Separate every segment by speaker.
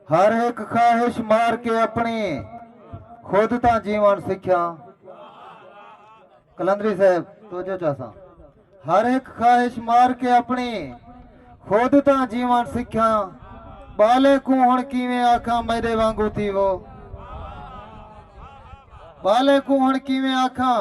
Speaker 1: ہر ہک خواہش مار کے اپنی خود تاں جیون سکھیا کلندری صاحب تو جو چاساں ہر ایک خواہش مار کے اپنی خود تاں جیون سکھیا بالے کو ہن کیویں آکھاں میرے وانگو تھی وہ بالے کو ہن کیویں آکھاں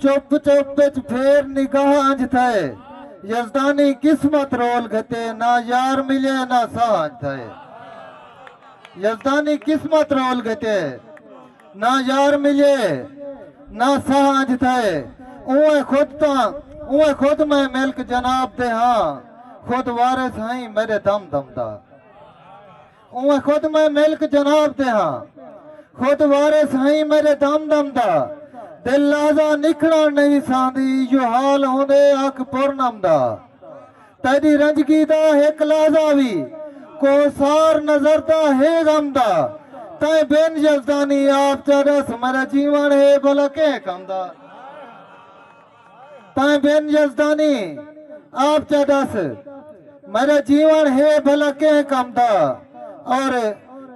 Speaker 1: چپ چپ اچ پھیر نگاہ انج تھئے۔ یزدانی قسمت رول گھتے نہ یار ملے نہ ساہ انج تھئے۔ یزدانی قسمت رول گھتے نہ یار ملے نہ ساہ انج تھئے۔ اونویں خود تاں اونویں خود میں ملک جناب دے ہاں خود وارث ہئیں میڈے دم دم دا۔ اوہ خود میں ملک جناب دے ہاں خود وارث ہئیں میڈے دم دم دا دل لحظہ نکھڑن نہیں سہندی ایہو حال ہوندے اکھ پورنم دا تیڈی رنجگی دا ہک لحظہ وی کوہ سار نظر دا ہے غم دا تیں بن یزدانی آپ چا ڈس میڈا جیون ہے بھلا کہیں کم دا۔ تائیں بن یزدانی آپ چا ڈس میڈا جیون ہے بھلا کہیں کم دا اور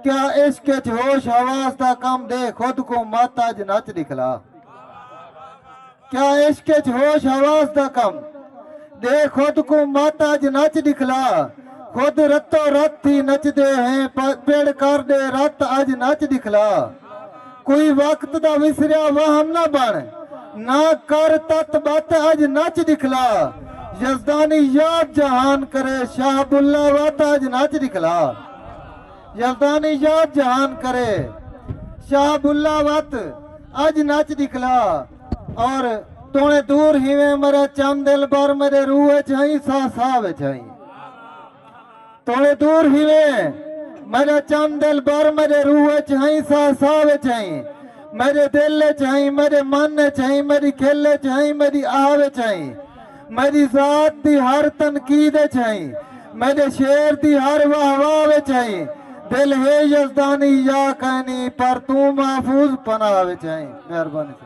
Speaker 1: کیا عشق اچ ہوش حواس دا کم دے خود کوں مت اج نچ دکھلا کیا عشق اچ ہوش حواس دا کم دے خود کوں مت اج نچ دکھلا خود رتو رت تھی نچ دے ہیں پڑ کر دے رت اج نچ دکھلا کوئی وقت دا وسریا وہم نہ بݨ نہ کر تت بت اڄ نچ ݙکھلا یزدانی یاد جہان کرے شاہ بلہ وت اڄ نچ ݙکھلا یزدانی یاد جہان کرے شاہ بلہ وت اڄ نچ ݙکھلا اور توݨے دور ہیویں مرے چم دل بر میݙے روح وچ ہئیں ساہ ساہ وچ ہئیں توں دور ہیویں میڈا چم دل بر میڈے روح اچ ہائیں ساہ ساہ وچ ہائیں میڈے دل اچ ہائیں میڈے من اچ ہائیں میڈی کھل اچ ہائیں میڈی آہ وچ ہائیں میڈی ذات دی ہر تنقید اچ ہائیں میڈے شعر دی ہر واہ واہ وچ ہائیں دل ہے یزدانی یا کائنی پر توں محفوظ پناہ وچ ہائیں مہربانی